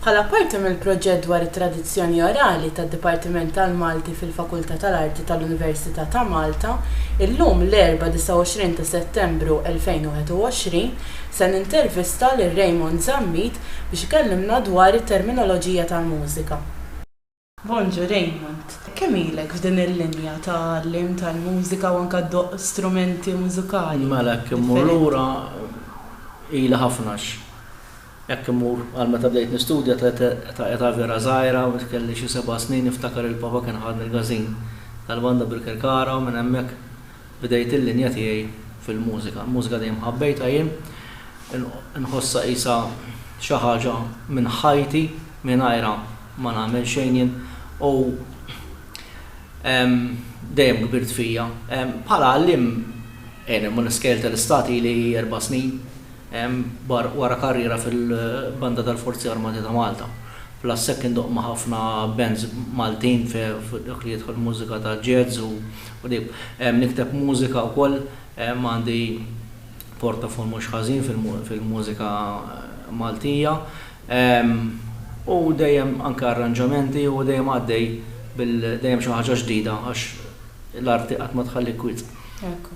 Bħala parti mill-proġett dwar it-tradizzjoni orali tad-Dipartiment tal-Malti fil-Fakultà tal-Arti tal-Università ta' Malta, illum l-Erbgħa 29 ta' Settembru 2021, se nintervista lil Raymond Zammit biex ikellimna dwar it-terminoloġija tal-mużika. Bonġu Raymond, kemm ilek f'din il-linja ta' għalliem tal-mużika u anke ddoqq strumenti mużikali differenti? Mela jekk immur lura ili ħafna għax jekk immur għal meta bdejt nistudja ta' età vera żgħira, kelli xi seba' snin niftakar li papa kien ħadni l-gazin tal-banda bil-Kirkara u minn hemmhekk Bdejt il-linja tiegħi fil-mużika. Il-mużika dejjem ħabbejtha jien. Inħossha qisha xi ħaġa minn ħajti, mingħajrha ma nagħmel xejn jien u dejjem kbirt fija. Bħala għalliem, jien immur skejjel tal-istat ili erba' snin wara karriera fil-Banda tal-Forzi Armati ta' Malta. Plus hekk indoqq ma' ħafna bands Maltin fi dak li jidħol mużika ta' jazz u Qrib. Nikteb mużika wkoll, għandi portafol mhux ħażin fil-mużika Maltija u dejjem anke arranġamenti u dejjem għaddej bil dejjem xi ħaġa ġdida għax l-arti qatt ma tħallik kwiet. Ekku.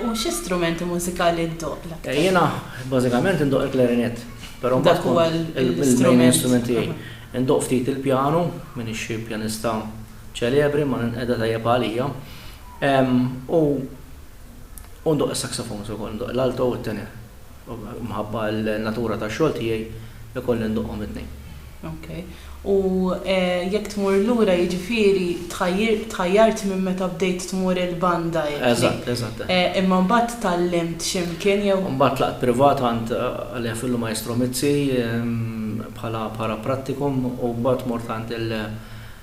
U xi strumenti mużikali ddoqq l-aktar? Jiena bażikament indoqq il-klarinett, però mbagħad kont. Dak huwa l-istrument. Il-main instrument tiegħi. Indoqq ftit il-pjanu, m'iniex xi pjanista ċelebri, ma ninqeda tajjeb għalija. U u ndoqq is-saxophones ukoll, ndoqq l-alto u t-tenor. Mħabba l-natura tax-xogħol tiegħi ikolli ndoqqhom it-tnejn. Ok. U jekk tmur lura jiġifieri tħajjart minn meta bdejt tmur il-banda hekk. Eżatt, eżatt. Imma mbagħad tgħallimt xi mkien jew? Mbagħad tlaqt privat għand Alea Fillu Maestro Mizzi bħala para prattikum u mbagħad mort għand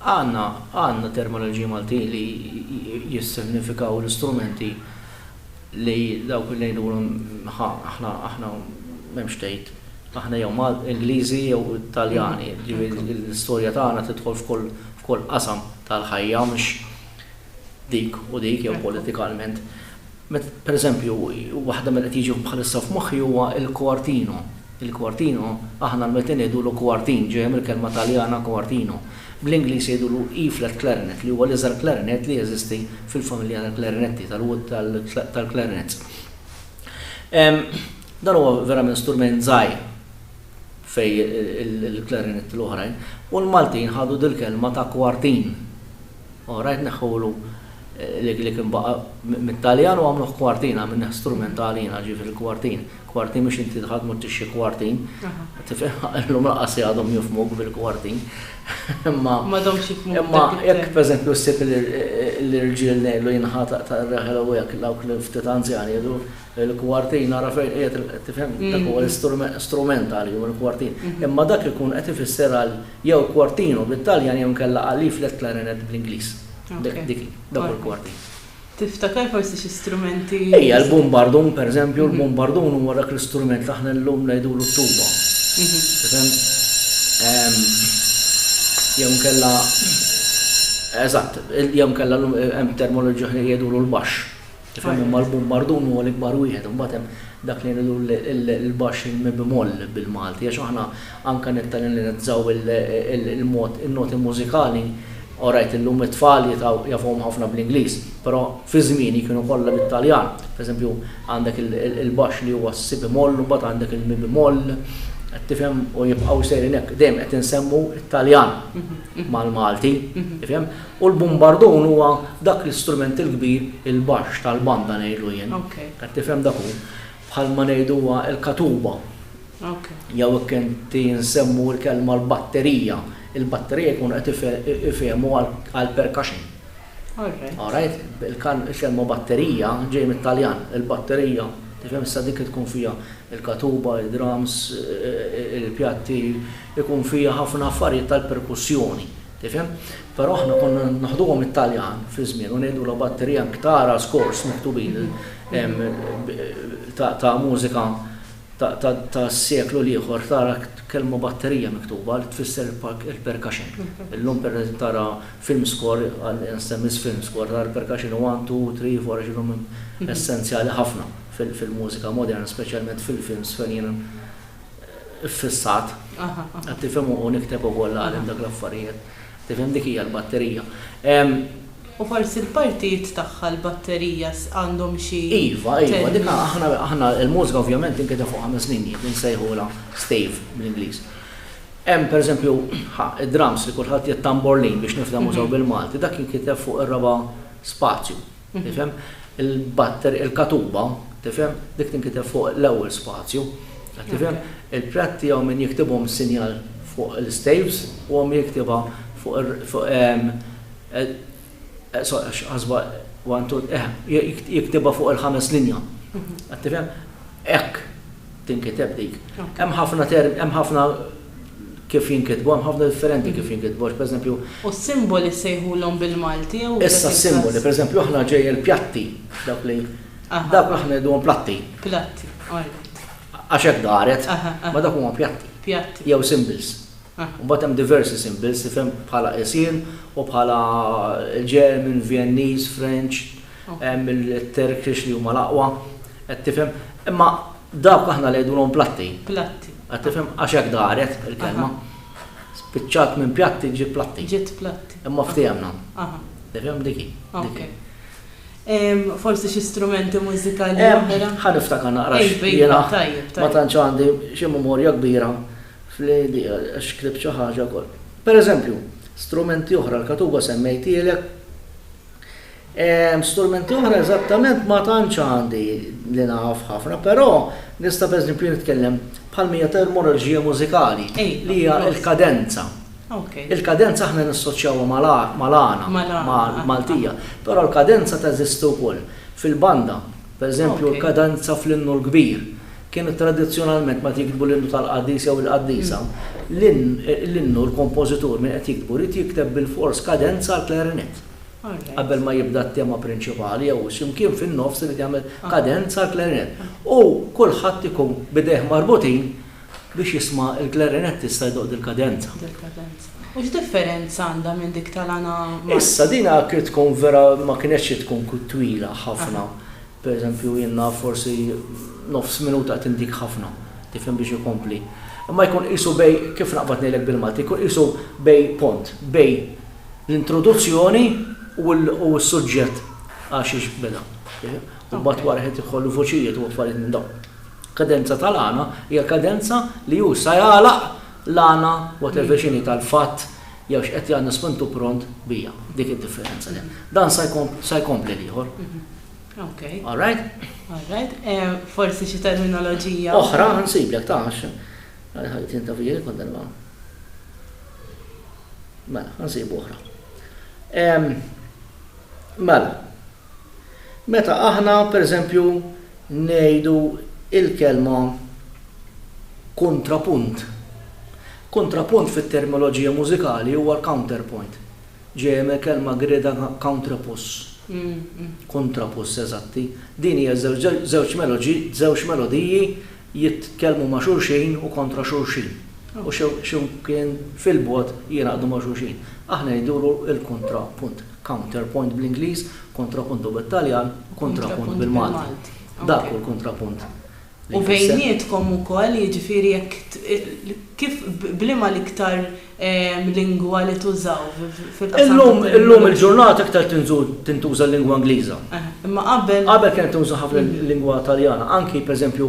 Għandna, għandna terminoloġiji Maltin li jissignifikaw l-istrumenti li dawk li ngħidulhom ħa aħna, aħna m'hemmx tgħid, aħna jew Mal, Ingliżi jew Taljani, ġifieri l-istorja tagħna tidħol f'kull, f'kull qasam tal-ħajja mhux, dik u dik jew politikalment. Pereżempju, waħda mill-li qed jiġu bħalissa f'moħħi huwa l-quartino. Il-quartino, aħna l-Maltin ngħidulu quartin, ġejja mill-kelma Taljana quartino. Bl-Ingliż jgħidulu E-flat clarinet li huwa l-iżgħar klarinet li jeżisti fil-familja tal-klarinetti, tal-clarinets. Dan huwa verament strument żgħir fejn il-klarinetti l-oħrajn u l-Maltin ħadu dil-kelma ta' quartin All right neħħulu li kien baqa' mit-Taljan u għamluh kwartin, għamilnieh strumentali jiena, ġifieri kwartin. Kwartin mhux inti dħalt mort tixtri kwartin. Tifhem? Illum lanqas għadhom jifhmuk bil-kwartin. Imma m'għadhomx jifhmuk. Imma jekk pereżempju ssib l-irġiel ngħidlu jinħataq ta' reħel u hekk dawk li ftit anzjani jgħidu l-kwartin ara fejn qiegħed tifhem dak huwa strumentali hu l-kwartin. Imma dak ikun qed ifisser għal Jew quartino bit-Taljan jew inkella A leaflet clarinet bl-Ingliż. Dik hi, dawk il-quartini. Tiftakar forsi xi strumenti? Ejja, l-bumbardun, pereżempju, l-bumbardun huwa dak l-istrument li aħna llum ngħidulu t-tuba. Tifhem? Jew inkella, eżatt, jew inkella llum hemm termoloġija oħra li jgħidulu l-baxx. Tifhem, imma l-bumbardun huwa l-ikbar wieħed, imbagħad hemm dak li ngħidu l-baxx il-mi-b'moll bil-Malti għax aħna anke nittalennizzaw il-mod in-noti mużikali, orajt illum it-tfal jitgħu jafuhom ħafna bl-Ingliż, però fi żmieni kienu kollha bit-Taljan. Pereżempju għandek il-baxx li huwa s-si b'moll u mbagħad għandek il-mi b'moll, qed tifhem, u jibqgħu sejrin hekk. Dejjem qed insemmu t-Taljan mal-Malti, tifhem? U l-bumbardun huwa dak l-istrument il-kbir, il-baxx tal-banda ngħidlu jien. Qed tifhem dak hu? Bħalma ngħidu huwa l-katuba. Jew hekk inti nsemmu l-kelma l-batterija. Il-batterija jkunu qed ifehmu għall-percussion. Alright? Il-kelma batterija ġej mit-Taljan. Il-batterija, tifhem issa dik tkun fiha l-katuba, id-drums, il-pjatti, ikun fiha ħafna affarijiet tal-perkussjoni. Tifhem? Però aħna konna naħduhom it-Taljan fi żmien u ngħidu la batterija anki tara skors miktubin ta' mużika ta' seklu l-ieħor tara kelma batterija miktuba li tfisser il-percussion. Illum per tara film score għal instemmis film score tara l-percussion 1, 2, 3, 4 x'inhom essenzjali ħafna fil-mużika moderna, speċjalment fil-films fejn iffissat. Qed tifhem u nikteb ukoll għalihom dak l-affarijiet. Tifhem dik hija l-batterija. U forsi l-partijiet tagħha l-batterija għandhom xi. Iva, iva, dik aħna l-mużika ovvjament tinkiteb fuq ħames linji, din nsejħulha stave bl-Ingliż. Hemm pereżempju id-drums li kulħadd jgħid tamborlin biex nifhmuh sew bil-Malti, dak jinkiteb fuq ir-raba' spazju. Tifhem? Il-batter, il-katuba, tifhem, dik tinkiteb fuq l-ewwel spazju. Qed tifhem? Il-prat tiegħu min jiktibhom is-sinjal fuq l-istaves u hemm jiktibha fuq jiktibha fuq il-ħames linja. Qed tifhem? Hekk tinkiteb dik. Hemm ħafna hemm ħafna Kif jinkitbu, hemm ħafna differenti kif jinkitbu għax pereżempju. U s-simboli ssejħulhom bil-Malti jew. Issa s-simboli, pereżempju aħna ġej il-pjatti dawk li dawk aħna ngħiduhom platti. Platti, alright. Għax hekk daret, ma dawk huma pjatti. Pjatti. Jew symbols. Mbagħad hemm diversi symbols tifhem bħala qisien u bħala German, Vjenniż, French. Il-Turkish li huma l-aqwa, qed tifhem? Imma dawk aħna ngħidulhom platti. Platti. Qed tifhem? Għax hekk daret il-kelma. Spiċċat minn pjatti ġiet platti. Ġiet platti. Imma ftehemna. Aha. Tifhem dik hi. Ok. Forsi xi strumenti mużikali oħra? Ħa niftakar naqra. Jiena ma tantx għandi xi memorja kbira fl-li għax ktibt xi ħaġa wkoll. Pereżempju, strumenti oħra l-katuba semmejtielek. Strumenti oħra eżattament ma tantx għandi li naf ħafna, però nista' pereżempju nitkellem bħal mija termoloġija mużikali li hija l-kadenza. Il-kadenza aħna nassoċjawha mal-għana Maltija, però l-kadenza teżisti wkoll fil-banda. Pereżempju l-kadenza fl-innu l-kbir kienet tradizzjonalment meta jiktbu l-innu tal-qaddis jew il-qaddisa, l-innu l-kompożitur min qed jikbu jrid jikteb bilfors kadenza għall-klarinett. qabel ma jibda t-tema prinċipali jew xi mkien fin-nofs irid jagħmel kadenza l-klarinett. U kulħadd ikun b'idejh marbutin biex jisma' l-klarinettista jdoqq dil-kadenza. Dil-kadenza. U x'differenza għandha minn dik tal-għana Malti? Issa din għakri tkun vera ma kinetx xi tkun twila ħafna. Pereżempju jien naf forsi nofs minuta qed indik ħafna, tifhem biex ikompli. Imma jkun qisu bej, kif naqbad ngħidlek bil-Malti, jkun qisu bej pont, bej, L-introduzzjoni u s-suġġett għax jiġbidha. U mbagħad wara qed jidħol il-vuċijiet u affarijiet minn dawn. Kadenza tal-għana hija kadenza li hu sa jagħlaq l-għana whatever x'inhi tal-fatt jew x'qed jagħna spintu pront bija. Dik id-differenza. Dan sa jkompli l-ieħor. Okay. All right? All right. Forsi xi terminoloġija. Oħra nsiblek ta' Għal ħajti inta fih il-kundanna? Mela, nsibu oħra. Mela, meta aħna, per eżempju, ngħidu il-kelma kontrapunt. Kontrapunt fit-terminoloġija mużikali huwa l-counterpoint. Ġej hemm il-kelma greda countrapus. Kontrapus, eżatti. Din hija żewġ melodiji jitkellmu ma' xulxin u kontra xulxin, u x'imkien fil-bogħod jingħaqdu ma' xulxin. Aħna jduru l-kontra punt, counter point bl-Ingliż, kontra punto bit-Taljan, u kontra punt bil-Malti. Dak hu l-kontra punt li jfisser. U bejnietkom ukoll, jiġifieri jekk, kif, b'liema l-iktar lingwa li tużaw fil-qasam tat-tagħlim. Illum, illum il-ġurnata iktar tinżul, tintuża l-lingwa Ingliża. Aha, imma qabel. Qabel kienet tinża ħafna l-lingwa Taljana. Anki, per eżempju,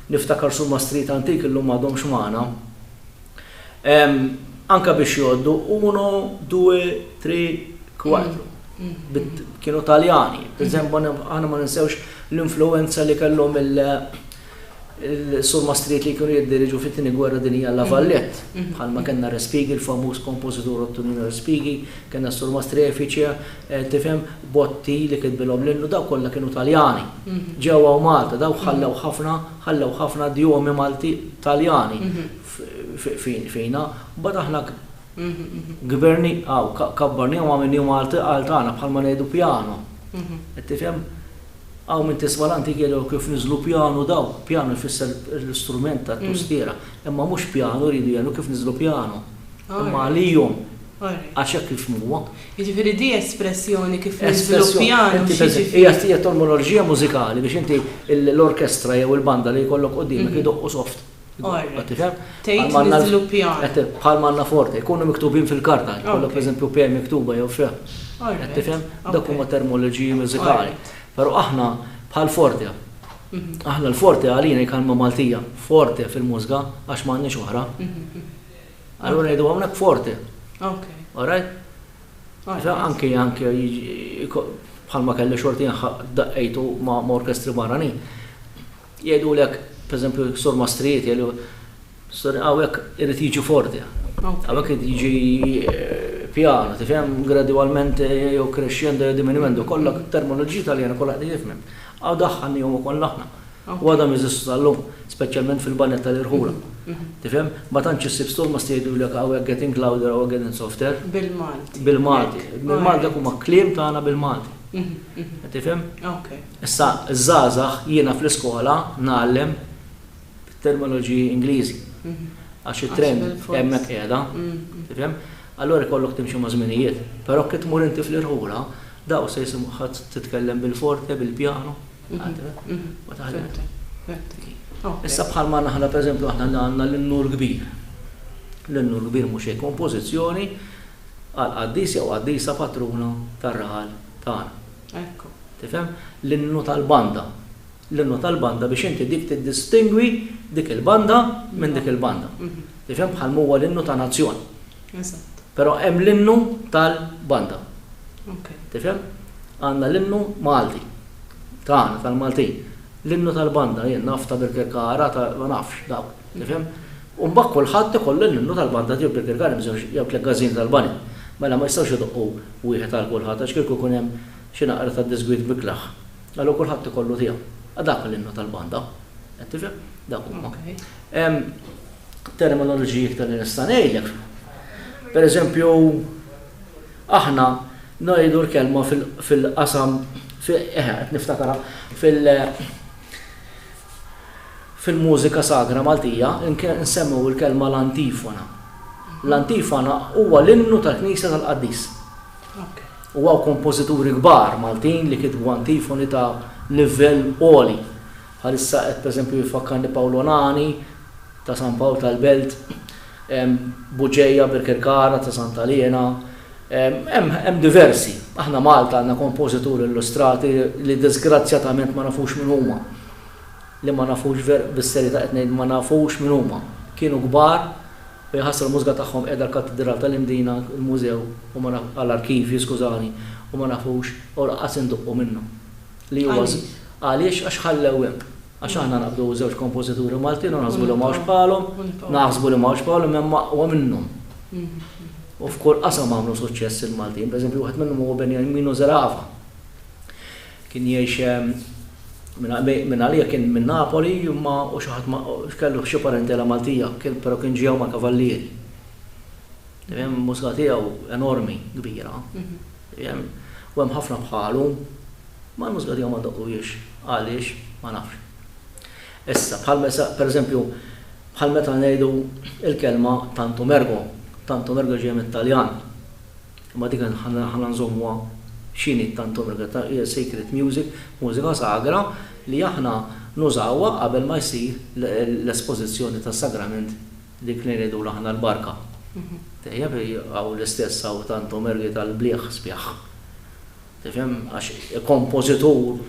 niftakar sur Mastrieta antik illum m'għadhomx magħna. Anke biex jgħoddu uno, due, tre, quattro. Kienu Taljani. Per eżempju, aħna ma ninsewx l-influwenza li kellhom il- Il-surmastrid li kienu jiddiriġu fit-Tieni Gwerra Dinjija La Valette, bħalma kellna Respighi, il-famuż kompożitur Ottonino Respighi, kellna s-surmastri Efice, tifhem, Botti li kitbilhom l-innu, dawk kollha kienu Taljani. Ġew hawn Malta, dawk ħallew ħafna, ħallew ħafna djomi Malti, Taljani fina. Mbagħad aħna kbirniaw, kabbarniehom għamilniehom għal tagħna, bħalma ngħidu pjano. Qed tifhem? Hawn min tisma' l-antik jgħid oh kif niżlu pjanu dawn, pjanu jfisser l-istrument tat-tustiera, imma mhux pjanu jridu jgħidu kif niżlu pjanu, imma għalihom għax hekk kif huwa. Jiġifieri di espressjoni kif niżlu pjanu x'jiġifieri? Hija terminoloġija mużikali biex inti l-orkestra jew il-banda li jkollok quddiemek idoqqu soft. Tgħid niżviluppihan. Bħal ma għandna forte, jkunu miktubin fil-karta, jkollok pereżempju P miktuba jew F. Qed tifhem? Dawk huma termoloġiji mużikali. Però aħna bħal forte. Aħna l-forte għalina hi kelma Maltija, forte fil-mużga għax m'għandniex oħra. Allura ngħidu hawnhekk forte. All right? Anke anke bħalma kelli xorti nħaq daqqejtu ma' orkestri barranin. Jgħidulek, pereżempju, sormastrijiet jgħidu, Sorry, hawnhekk irid jiġi forti. Hawnhekk irid jiġi pjano, tifhem, gradwalment jew crescendo jew diminuendo, kollha terminoloġiji Taljana kollha qegħdin jifhmhom. Hawn daħħalnihom ukoll aħna. U għadhom jeżistu sal-lum, speċjalment fil-banjett tal-irħula. Tifhem? Ma tantx issib sormast jgħidulek hawnhekk getting louder, hawnhekk getting softer. Bil-Malti. Bil-Malti. Bil-Malti dak huma kliem tagħna bil-Malti. Tifhem? Issa ż-żgħażagħ jiena fl-iskola ngħallem bit-terminoloġiji Ingliżi għax it-trend hemmhekk qiegħda, tifhem? Allura jkollok timxi maż-żminijiet. Però kif tmur inti fl-irħula, dawk se jisimuha titkellem bil-forte, bil-pjano, ma taħlimx. Issa bħalma aħna pereżempju aħna li għandna l-Innur Kbir. L-Innur Kbir mhu xejn kompożizzjoni għall-qaddis jew qaddisa patruna tar-raħal tagħna. Ekku. Tifhem? L-innu tal-banda. L-innu tal-banda biex inti dik tiddistingwi dik il-banda minn dik il-banda. Tifhem? Bħal m'huwa l-innu ta' nazzjon. Eżatt. Però hemm l-innu tal-banda. Ok. Tifhem? Għandna l-innu Malti. Tagħna, tal-Maltin. L-innu tal-banda jien naf ta' Birkirkara, ta' ma nafx dawk. Tifhem? U mbagħad kulħadd ikollu l-innu tal-banda tiegħu Birkirkara, jew Tleggażin tal-Bani. Mela ma jistgħux idoqqu. Wieħed għal kulħadd, għax kieku jkun hemm xi naqra ta' diżgwid biglaħ, allo kulħadd ikollu tiegħu. A dak hu l-innu tal-banda. Qed tifhem? Dak huma. Hemm terminoloġiji iktar li nista' ngħidlek. Per eżempju, aħna ngħidu l-kelma fil-qasam, eħe, qed niftakarha, fil- Fil-mużika sagra Maltija nsemmew il-kelma l-antifona. L-antifona huwa l-innu tal-knisja tal-qaddis. U hawn kompożituri kbar Maltin li kitbu antifoni ta' livell għoli. Bħalissa qed pereżempju jfakkarni Pawl Onani ta' San Pawl tal-Belt, Buġeja, Birkirkara ta' Santa Liena, hemm diversi. Aħna Malta għandna kompożituri illustrati li diżgrazzjatament ma nafux min huma. li ma nafux ver bis-serjetà qed ngħid ma nafux min huma, kienu kbar u jaħasra l-mużga tagħhom qiegħda l-Kattidral tal-Imdina, il-Mużew u ma naf a l-Arkivji skużani, u ma nafux u laqqas induqqu minnhom. Li huwa s Għaliex? Għaliex għax ħallew hemm. Għax aħna naqbdu żewġ kompożituri Maltin u naħsbu li m'hawnx bħalhom, naħsbu li m'hawnx bħalhom imma hemm aqwa minnhom. U f'kull qasam għamlu suċċess il-Maltin, pereżempju wieħed minnhom huwa Beniamino Zerafa. Kien jgħix minn għalija kien minn Napoli imma u xi ħadd kellu xi parentela Maltija kien però kien ġiew mal-kavallieri. Tifhem il-mużika tiegħu enormi, kbira. Tifhem? U hemm ħafna bħalu. Ma l-mużika tiegħu ma ndoqqhiex. Għaliex? Ma nafx. Issa bħal mesa per eżempju bħal meta ngħidu l-kelma tantum ergo. Tantum ergo ġejja mit-Taljan. Imma dik aħna nżommuha x'inhi t-Tanta Omega ta' hija sacred music, mużika sagra li aħna nużawha qabel ma jsir l-espożizzjoni tas-sagrament dik li ngħidulu aħna l-barka. Tajjeb, hawn l-istess hawn Tanta Omergi tal-bliegħ sbieħ. Tifhem? Għax kompożitur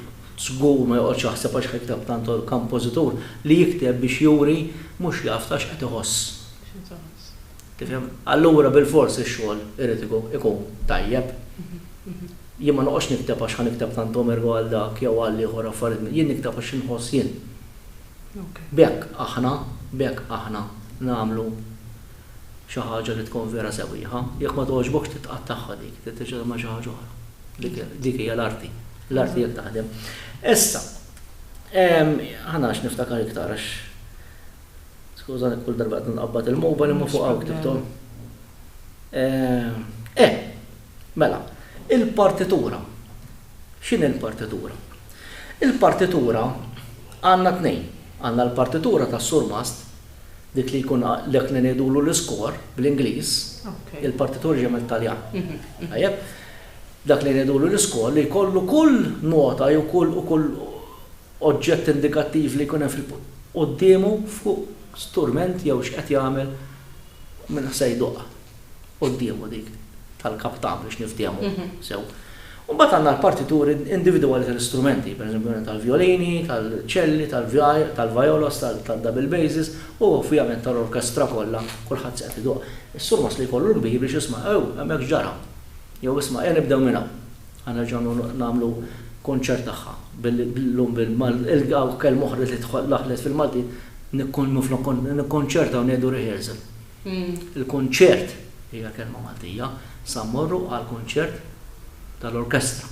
żgur ma joqgħodx jaħseb għax ħa jikteb Tanta Kompożitur li jikteb biex juri mhux jaf ta' x'qed iħoss. Tifhem? Allura bilfors ix-xogħol irid ikun tajjeb. Jien ma noqgħodx nikteb għax ħa nikteb tantom ergo għal dak jew għal ieħor affarijiet, jien nikteb għax inħoss jien. B'hekk aħna, b'hekk aħna nagħmlu xi ħaġa li tkun vera sewwieħa. Jekk ma togħġbokx titqattagħha dik, trid terġa' tagħmel xi ħaġa oħra. Dik dik hija l-arti. L-arti hekk taħdem. Issa, ħa narax niftakar iktar għax Skużani kull darba qed nqabbad il-mobile imma fuq hawn ktibthom. Eh, mela, il-partitura. X'inhi l-partitura? Il-partitura għandna tnejn. Għandna l-partitura tas-surmast, dik li jkun dak li ngħidulu l-iskor bl-Ingliż, il-partitura ġejja mit-Taljan. Tajjeb? Dak li ngħidulu l-iskor li jkollu kull nota jew kull oġġett indikattiv li jkun hemm fil. Quddiemu fuq strument jew x'qed jagħmel minn ħsa jduqq quddiemu dik tal-kap ta' biex niftiehmu sew. U mbagħad għandna l-partituri individwali tal-istrumenti, pereżempju tal-vjolini, tal-ċelli, tal-vijolos, tad-double basses u ovvjament tal-orkestra kollha kulħadd se qed iduqq. Is-surmast li jkollu l-kbir biex jisma' ew hemmhekk x'ġara? Jew isma' ejja nibdew minn hawn. Ħa nerġgħu nagħmlu kunċert tagħha llum bil-Malti, hawn kelma oħra li daħlet fil-Malti, minflok nikkonċertaw ngħidu rehearsal. Il-kunċert hija kelma Maltija, sa mmorru għall-kunċert tal-orkestra.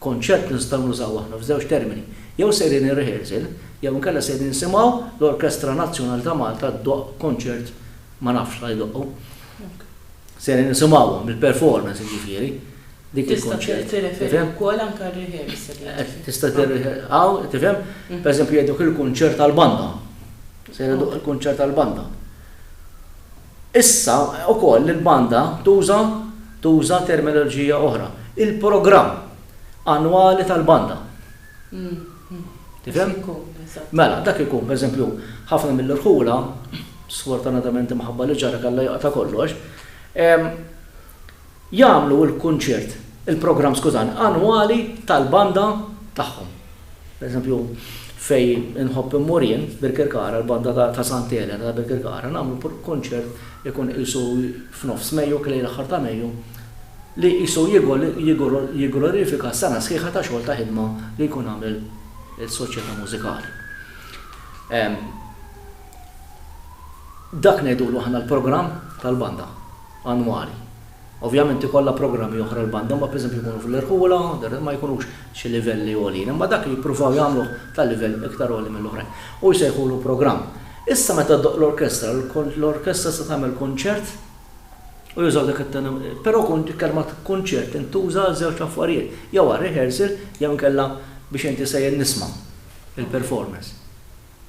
Konċert nistgħu nużaw aħna f'żewġ termini, jew sejrin ir-rehearsal jew inkella sejrin nsimgħu l-Orkestra Nazzjonali ta' Malta ddoqq kunċert ma nafx x'ħa jdoqqu. Ser nisimgħuhom, il-performance jiġifieri, dik il-kunċett. Tista' tirreferi wkoll anke għar-rehearsal. Tista' tirreferi hawn, tifhem? Pereżempju jgħidu dak il-kunċert tal-banda. Se jgħidu dak il-kunċert tal-banda. Issa wkoll il-banda tuża tuża terminoloġija oħra. Il-programm annwali tal-banda. Tifhem? Mela, dak ikun, pereżempju, ħafna mill-irħula, sfortunatament imħabba li ġara kellha joqta' kollox, jagħmlu l-kunċert, il-programm skużani, annwali tal-banda tagħhom. Pereżempju, fejn inħobb immur jien, Birkirkara, l-banda ta' Santa Elena ta' Birkirkara, nagħmlu kunċert ikun qisu f'nofs Mejju, kien lejl aħħar ta' Mejju, li qisu jigglorifika sena sħiħa ta' xogħol ta' ħidma li jkun għamel is-Soċjetà Mużikali. Dak ngħidulu aħna l-programm tal-banda annwali. Ovvjament ikollha programmi oħra l-banda, imma pereżempju jkunu fl-irħula, ma jkunux xi livelli għoljin, imma dak jippruvaw jagħmluh ta' livell iktar għoli mill-oħrajn. U jsejħulu programm. Issa meta ddoqq l-orkestra, l-orkestra se tagħmel kunċert, u jużaw dak it-toni, però il-kelma kunċert tintuża għal żewġ affarijiet, jew għal rehearsal jew inkella biex inti sejjer nisma' il-performance.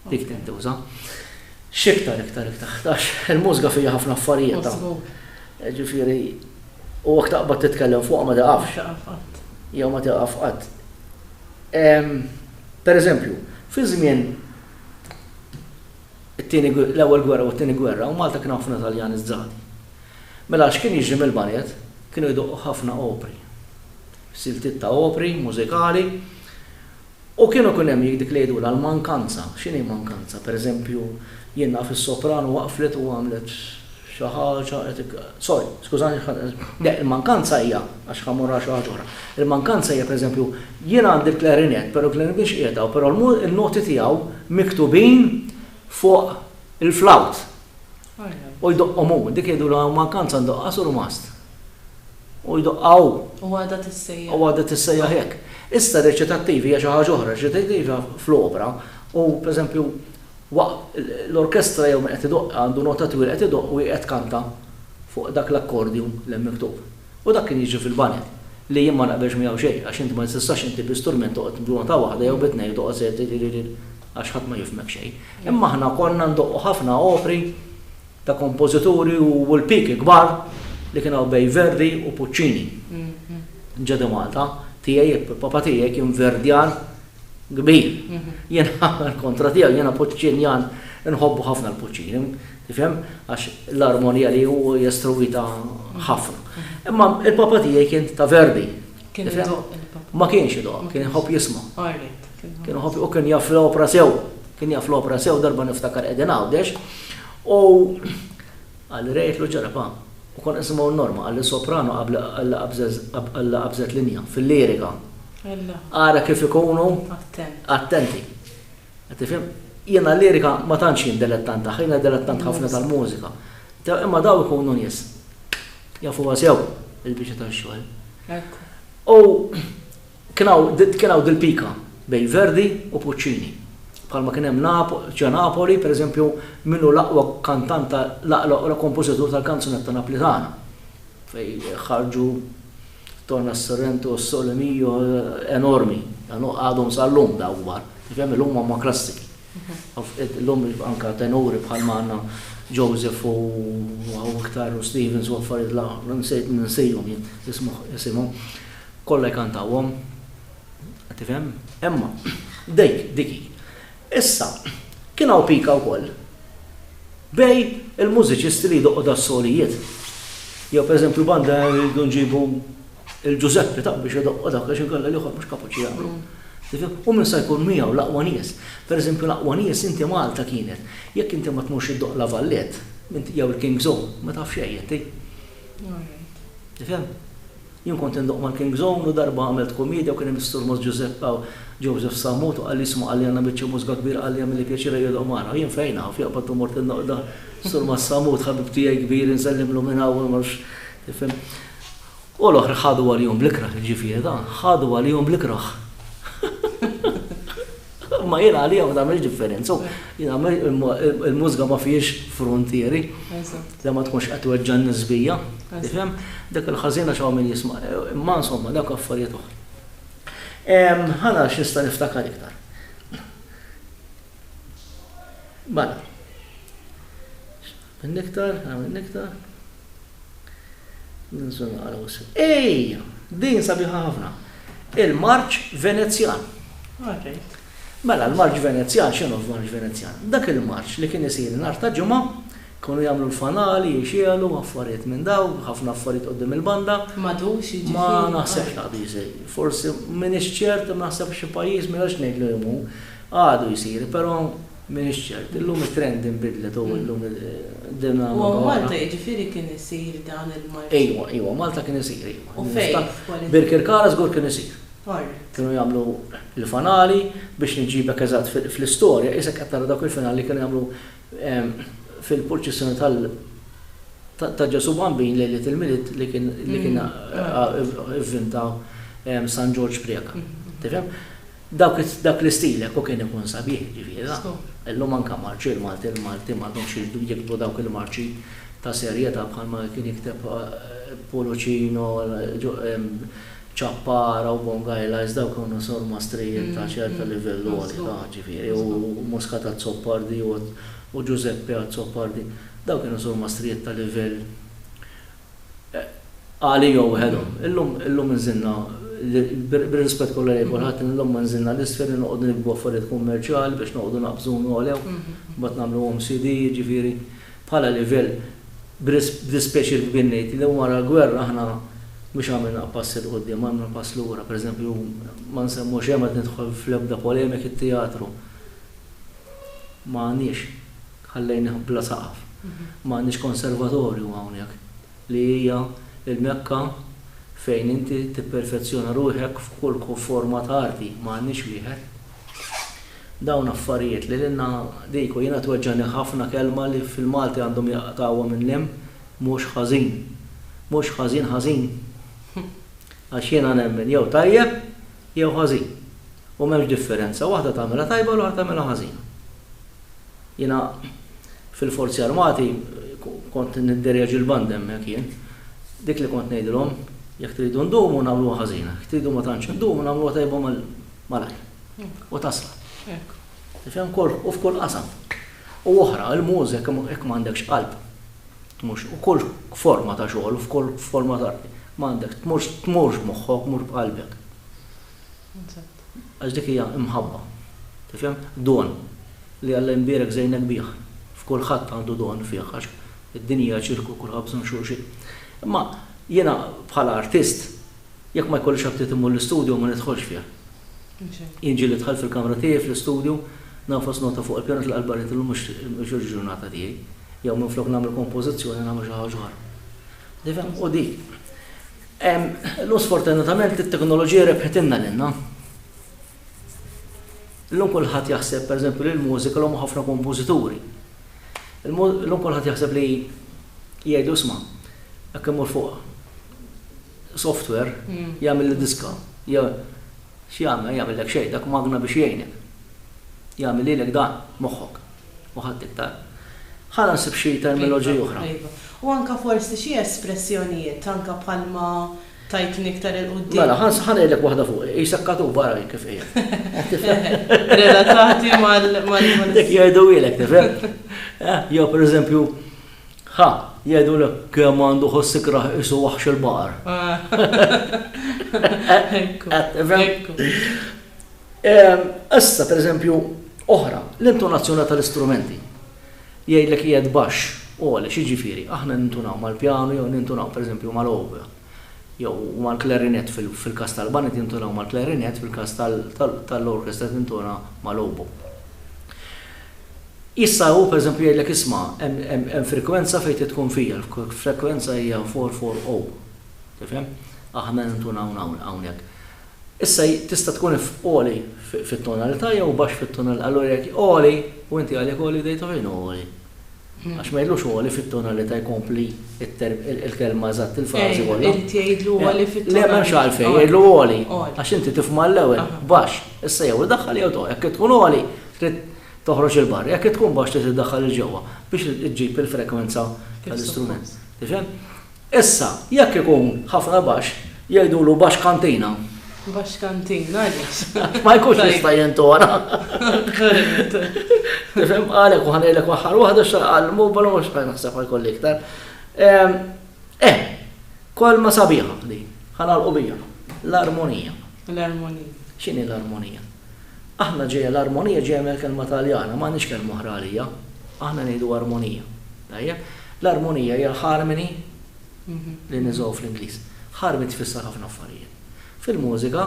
Dik tintuża. X'iktar iktar iktar għax il-mużika fiha ħafna affarijiet. Mażbut. Ġifieri, u jekk taqbad titkellem fuqha ma tiqafx. Ma tiqaf qatt. Jew ma tiqaf qatt. Pereżempju, fi żmien It-tieni, l-ewwel gwerra u t-tieni gwerra u Malta kien hawn ħafna Taljani żżadi. Mela x'kien jiġri mill-banjett? Kienu jdoqqu ħafna opri. Siltiet ta' opri, mużikali. U kienu jkun hemm dik li jgħidulha l-mankanza. X'inhi mankanza? Pereżempju, jien naf is-soprano waqflet u għamlet. Xi ħaġa qed ik. Sorry, skużani xi ħaġa. Le, il-mankanza hija, għax ħa mmur għal xi ħaġa oħra. Il-mankanza hija, pereżempju, jien għandi l-klarinett, però l-klarinett mhix qiegħed hawn, però n-noti tiegħu miktubin fuq il-flawt. U jdoqqhom hu. Dik jgħidulha mankanza ndoqqha surmast. U jdoqqha hu. U għadha tissejjaħ. U għadha tissejjaħ hekk. Issa r-reċitattiv hija xi ħaġa oħra. Reċitattiv hija fl-opra u, pereżempju, Waqt l-orkestra jew min qed idoqq għandu nota twila qed idoqq u hi qed tkanta fuq dak l-accordion li hemm miktub. U dak kien jiġri fil-baned, li jien ma naqbilx miegħu xejn għax inti ma tistax inti bi strument toqgħod b'nota waħda jew bi tnejn u toqgħod sejjer tiriririri għax ħadd ma jifhmek xejn. Imma aħna konna ndoqqu ħafna opri ta' kompożituri u l-piki kbar li kien hawn bejn Verdi u Puccini. Ġa di Malta, tiegħi, papa tiegħi kien Verdjan kbir. Jiena kontra tiegħu, jiena Puċċinjan, inħobbu ħafna l-Puċċini, tifhem? Għax l-armonija li hu jestruwita ħafna. Imma il-papa tiegħi kien ta' Verdi. Kien Ma kienx idoq, kien iħobb jisma'. Kien iħobb u kien jaf l-opra sew, kien jaf l-opra sew darba niftakar qegħdin għawdex. U Qalli Ray jitlu ġara, pa. U konna nisimgħu n-Norma, qalli soprano qalli qabżet linja fil-lirika. Ara kif ikunu attenti. Qed tifhem? Jiena l-lirika ma tantx jien delettant tagħha, jiena delettant ħafna tal-mużika. Imma dawn ikunu nies jafuha sew il-biċċa tax-xogħol. U Kien hawn dil-pika bejn Verdi u Puccini. Bħalma kien hemm ġo Napoli, per eżempju, min hu l-aqwa kantant ta' l-aqwa kompożitur tal-kanzunetta Naplitana, fejn ħarġu Torna Sorrento u Sole Mio enormi, għadhom sal-lum dawk kbar. Tifhem, illum huma klassiki. Illum anke tenuri bħalma għandna Joseph u hawn iktar u Stevens u affarijiet la nsejthom jien isimhom. Kollha jkantawhom. Tifhem? Imma, dik, dik hi. Issa, kien hawn pika wkoll bejn il-mużiċisti li jdoqqu das-solijiet. Jew pereżempju banda rridu nġibu l-Ġużeppi ta' biex idoqqu dawk għax inkella l-ieħor mhux kapaċi jagħmlu. Tifhem? U min sa jkun miegħu l-aqwa nies. Pereżempju l-aqwa nies inti Malta kienet. Jekk inti ma tmurx iddoqq La Valette, jew il-King's Own, ma taf xejn inti. Tifhem? Jien kont indoqq mal-King's Own u darba għamilt kummiedja u kien hemm is-Surmos Ġużepp Kaw, Joseph Sammut, u qalli isma' qalli għandna biċċa mużga kbira qalli jagħmilli pjaċir ejja doqq magħna. U jien fejn af, joqbad u mort indoqq dan. Surmos Sammut ħabib tiegħi kbir insellimlu minn hawn u nmorx, tifhem. U l-oħra ħadu għalihom bl-ikrah, jiġifieri dan, ħadu għalihom bl-ikrah. Imma jien għalija ma tagħmilx differenza u jien għamel il-mużga ma fiex frontieri. Da ma tkunx qed weġġa' n-nies bija. Tifhem? Dak il-ħażina x'hawn min jisma'. Imma insomma dawk affarijiet oħra. Ħana x'nista' niftakar iktar. Mela. X'għamilni iktar? X'għamilni iktar? Ejja, din sabiħa ħafna. Il-marċ Venezjan. Mela, l-marċ Venezjan, x'inhu l-marċ Venezjan? Dak il-marċ li kien isir nhar ta' Ġimgħa, kienu jagħmlu l-fanali, jixegħlu, affarijiet minn dawn, ħafna affarijiet quddiem il-banda. Madux, jiġifieri. Ma naħsibx li għadu jsir. Forsi m'iniex ċert, imma naħseb xi pajjiż, m'għandix ngħid liema hu, għadu jsir, però. M'iniex ċert. Illum it-trend inbidlet u llum id-dinamika. U Malta jiġifieri kien isir dan il-marċ? Ejwa, ejwa, Malta kien isir, ejwa. U fejn? F'kwali. Birkirkara żgur kien isir. Alright. Kienu jagħmlu l-fanali, biex nġibek eżatt fl-istorja, qisek qed tara dawk il-finali li kienu jagħmlu fil-purċissjoni tal ta' Ġesù Bambin lejliet il-Milied li kien li kien ivvinta San Ġorġ Preca. Tifhem? Dak l-istil hekk u kien ikun sabiħ, ġifieri dan. Illum anke marċi l-Malti, l-Malti m'għadhomx jridu jiktbu dawk il-marċi ta' serjetà bħalma kien jikteb Puluċino, Ciappara u Bongaila iżda dawk kienu sormastri ta' ċertu livell għoli ta' ġifieri u Muscat Azzopardi u Giuseppe Azzopardi. Dawk kienu sormastrijiet ta' livell Għali jew Hello. Illum, illum inżilna, bir-rispett kollha lejn kulħadd, illum ma nżilna l-isfel li noqogħdu nikbu affarijiet kummerċjali biex noqogħdu naqbżu u ngħolew, mbagħad nagħmluhom CD, jiġifieri bħala livell, b'dispjaċir kbir ngħid li wara l-gwerra aħna mhux għamilna pass 'il quddiem, għamilna pass lura. Pereżempju, ma nsemmu xejn, ma rrid nidħol fl-ebda polemiki, t-teatru ma għandniex. Ħallejnih bla saqaf. Ma għandniex konservatorju hawnhekk, li hija l-Mekka fejn inti tipperfezzjona ruħek f'kull forma ta' arti, ma għandniex wieħed. Dawn affarijiet li lilna diku jiena tweġġagħni ħafna kelma li fil-Malti għandhom jaqtgħuha minn hemm, mhux ħażin. Mhux ħażin ħażin. Għax jiena nemmen jew tajjeb jew ħażin. U m'hemmx differenza, waħda tagħmilha tajba u l-oħra tagħmilha ħażina. Jiena fil-Forzi Armati kont nidderjaġi l-band hemmhekk jien. Dik li kont ngħidilhom, jekk tridu ndumu nagħmluha ħażina, jekk tridu ma tantx indumu nagħmluha tajba malajr. U tasal. Tifhem? U f'kull qasam. U oħra, il-mużek jekk m'għandekx qalb, mhux, u kull forma ta' xogħol u f'kull forma ta' m'għandek, tmurx b'moħħok, tmur b'qalbek. Għax dik hija imħabba. Tifhem? Don. Li Alla jimbierek żejnek bih. F'kulħadd għandu don fih għax id-dinja hija ċirku u kulħadd bżonn xulxin. Imma jiena bħala artist jekk ma jkollix aptit immur l-istudju ma nidħolx fih. Jien ġieli dħalt fil-kamra tiegħi fl-istudju nagħfas nota fuq il-pjanu tlaqgħet barra ngħid illum mhux il-ġurnata tiegħi. Jew minflok nagħmel kompożizzjoni nagħmel xi ħaġa oħra. Tifhem? U dik. Illum sfortunatament it-teknoloġija rebħitilna lilna. Illum kulħadd jaħseb pereżempju li l-mużika l ħafna kompożituri. Illum kulħadd jaħseb li jgħidu isma' jekk immur fuq software hmm. jagħmilli diska. X'jagħmel? Jagħmillek xejn, dak magna biex jgħinek. Jagħmel lilek dan moħħok. u ħadd iktar. Ħa naħseb xi termiloġiji oħra. Iva, iva. U anke forsi xi espressjonijiet, anke bħalma tajtni iktar 'il quddiem. Mela, ħa ngħidlek waħda fuqi, qisha katuba ara hi kif qiegħda. Relatati mal. Dik jgħiduhielek, tifhem? Jew pereżempju, ħa, jgħidulek kemm għandu ħoss ikrah qisu waħx il-baqar. Ekku, ekku. Issa, pereżempju, oħra, l-intonazzjoni tal-istrumenti. Jgħidlek qiegħed baxx, għoli, x'jiġifieri? Aħna nintunaw mal-pjanu jew nintunaw, pereżempju, mal-oboe jew mal-klarinett, fil-każ tal-baned jintunaw mal-klarinett, fil-każ tal-orkestra tintona mal-oboe. Issa hu, pereżempju, jgħidlek isma' hemm frikwenza fejn trid tkun fija, l-frekwenza hija 4-4-0. Tifhem? Aħna nintunaw hawnhekk. Issa hi tista' tkun f' għoli fit-tonalità jew baxx fit-tonalità. Allura jekk hi għoli u inti għalik għoli jibda jidħol fejn hu għoli. Għax ma jgħidlux għoli fit-tonalità jkompli il-kelma eżatt il-frażi kollha. Irid jgħidlu għoli fit-tonalità. Le m'hemmx għalfejn jgħidlu għoli. Għax inti tifhma l-ewwel baxx. Issa jew iddaħħal jew toqgħod. Jekk tkun għoli trid toħroġ 'il barra. Jekk tkun baxx trid iddaħħal 'il ġewwa biex iġġib il-frekwenza tal-istrument. Tifhem? Issa, jekk ikun ħafna baxx, jgħidulu baxx kantina. Baxx kantina, għaliex? Għax ma jkunx jista' jintona. Tifhem, għalhekk u ħa ngħidlek aħħar waħda x'għal mobile mhux ħa naħseb għal kolli iktar. Eh, kolma sabiħa li ħa nagħlqu biha, l-armonija. L-armonija. X'inhi l-armonija? Aħna ġejja l-armonija ġejja mill-kelma Taljana, m'għandniex kelma oħra għaliha. Aħna ngħidu armonija. Tajjeb? L-armonija hija l-harmony li niżgħu fl-Ingliż. Harmony tfisser ħafna affarijiet. Fil-mużika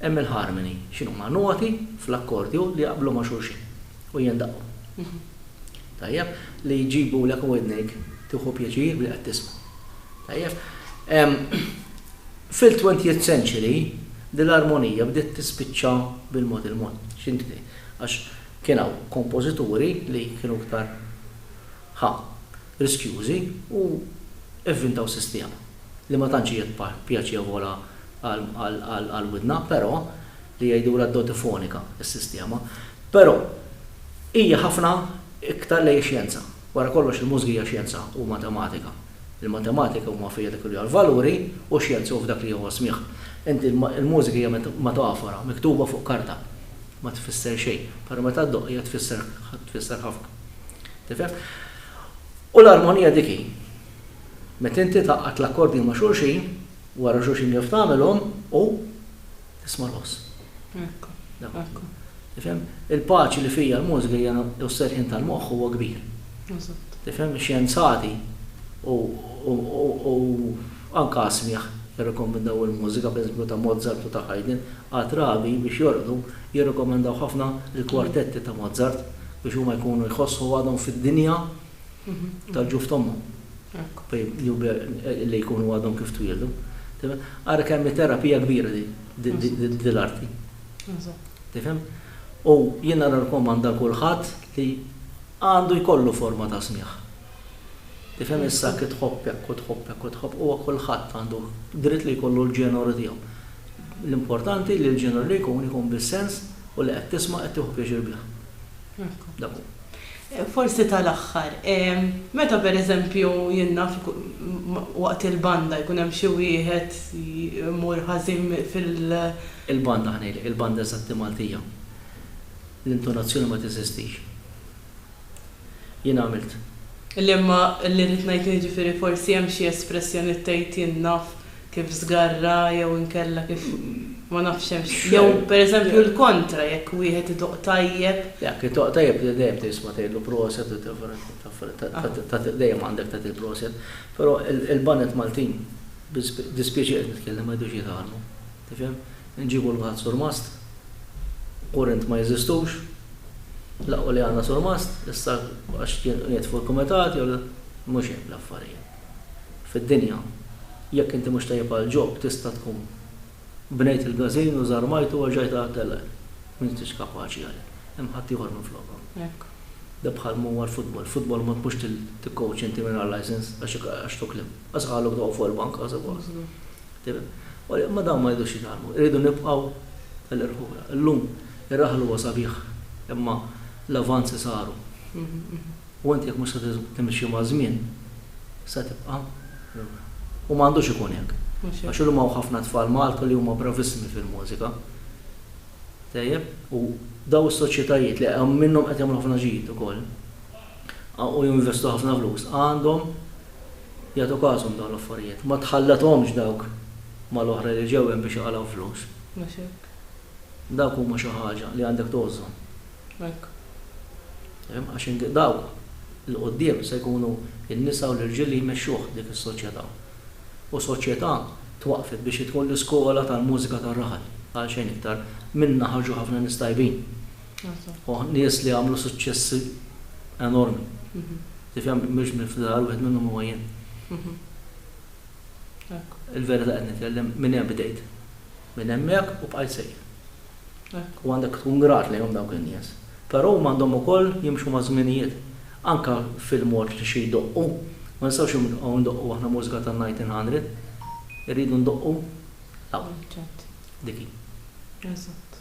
hemm il-harmony. X'inhuma? Noti fl-akkordju li jaqblu ma' xulxin u jindaqqu. Tajjeb? Li jġibulek widnejk tieħu pjaċir billi qed tisma'. Tajjeb? Fil-twentieth century, dil-armonija bdiet tispiċċa bil-mod il-mod. X'intri? Għax kien hawn kompożituri li kienu iktar, ħa, riskjużi u vvintaw sistema li ma tantx hija pjaċevola għall-widna, però, li jgħidulha dotifonika s-sistema. Però, hija ħafna iktar lejn ix-xjenza. Wara kollox il-mużika hija xjenza u matematika. Il-matematika huma fija dik li hija valuri u x-xjenza hu f'dak li huwa smigħ. Inti l-mużika hija metafora, miktuba fuq karta. Ma tfisser xejn. Però meta ddoqq hija tfisser tfisser ħafna. Tifhem? U l-armonija dik hi. Meta inti tgħaqqad l-akkordi ma' xulxin, wara xulxin kif tagħmilhom u tisma' l-ħoss. Ekku. Ekku. Tifhem? Il-paċi li fija l-mużika hija u s-serħien tal-moħħ huwa kbir. Eżatt. Tifhem? Ix-xjenzati u u anke smigħ jirrikkomendaw il-mużika, pereżempju ta' Mozart u ta' Haydn, għal rabi biex jorqdu jirrikkomendaw ħafna l-kwartetti ta' Mozart biex huma jkunu jħossu għadhom fid-dinja tal-ġuf t'ommhom. Hekk. Li jkunu għadhom kif twieldu. Ara kemm hi terapija kbira din l-arti. Tifhem? U jiena nirrakkomanda l-kulħadd li għandu jkollu forma ta' smigħ. Tifhem issa jekk tħobb hekk u tħobb hekk u tħobb huwa kulħadd għandu dritt li jkollu l-ġeneru tiegħu. L-importanti li l-ġeneru li jkun ikun bis-sens u li qed tisma' qed tieħu pjaċir bih. Dak hu. Forsi tal-aħħar, meta pereżempju jien naf waqt il-banda jkun hemm xi wieħed imur ħażin fil-. Il-banda ħa ngħidlek, il-banda eżatti Maltija. L-intonazzjoni ma teżistix. Jien għamilt. L-imma li rrid ngħid jiġifieri forsi hemm xi espressjonijiet tgħid jien naf kif żgarra jew inkella kif ma nafx hemmx, jew pereżempju l-kontra jekk wieħed idoqq tajjeb. Jekk idoqq tajjeb li dejjem tisma' tgħidlu proset u tagħfel, dejjem għandek tagħti l-proset. Però il-baned Maltin, bid-dispjaċir qed nitkellem, ma jridux jitgħallmu. Tifhem? Inġibu l-waħed surmast, kurrent ma jeżistux, laqqu li għandna surmast, issa għax jien qiegħed fuq il-kumitat jew le, mhux hekk l-affarijiet. fid-dinja. Jekk inti mhux tajjeb għal ġob tista' tkun bnejt il-gażin u żarmajtu għax ġajt għal telgħa m'intix kapaċi għalih, hemm ħaddieħor minflokha. Da bħal ma huwa l-futbol. Futbol ma tmurx tikkowċ inti mingħajr licence għax tuklim. Għax qaluk toqgħu fuq il-bank għax suppost. Tifhem? Imma dawn ma jridux jitgħallmu. Irridu nibqgħu tal-irħula. Illum ir-raħal huwa sabiħ imma l-avanzi saru. U inti jekk mhux se timxi maż-żmien, se tibqa' lura. U ma għandux ikun hekk. Għax illum hawn ħafna tfal Malta li huma bravissimi fil-mużika. Tajjeb? U dawn is-soċjetajiet li hemm minnhom qed jagħmlu ħafna ġid ukoll, u jinvestu ħafna flus, għandhom jagħtu każhom dawn l-affarijiet. Ma tħallethomx dawk mal-oħra li ġew hemm biex iqalgħu flus. Dawk huma xi ħaġa li għandek tgħożżhom. Hekk. Hemm, għax in dawk 'il quddiem se jkunu n-nisa u l-irġiel li jmexxuh dik is-soċjetà. U soċjetà twaqqfet biex jidħol l-iskola tal-mużika tar-raħal. Għal xejn iktar, minnha ħarġu ħafna nies tajbin. Eżatt. U nies li għamlu suċċessi enormi. Tifhem, mhux minn fl-aħħar wieħed minnhom huwa jien. Hekk. Il-verità qed nitkellem, minn hemm bdejt. Minn hemmhekk u bqajt sejr. Hekk, u għandek tkun grat lejhom dawk in-nies. Però huma għandhom ukoll jimxu maż-żminijiet. Anke fil-mod li xi jdoqqu. Ma nistgħux nibqgħu ndoqqu aħna mużika tan-nineteen hundred. Irridu ndoqqu l-aqwa. Dik hi. Eżatt.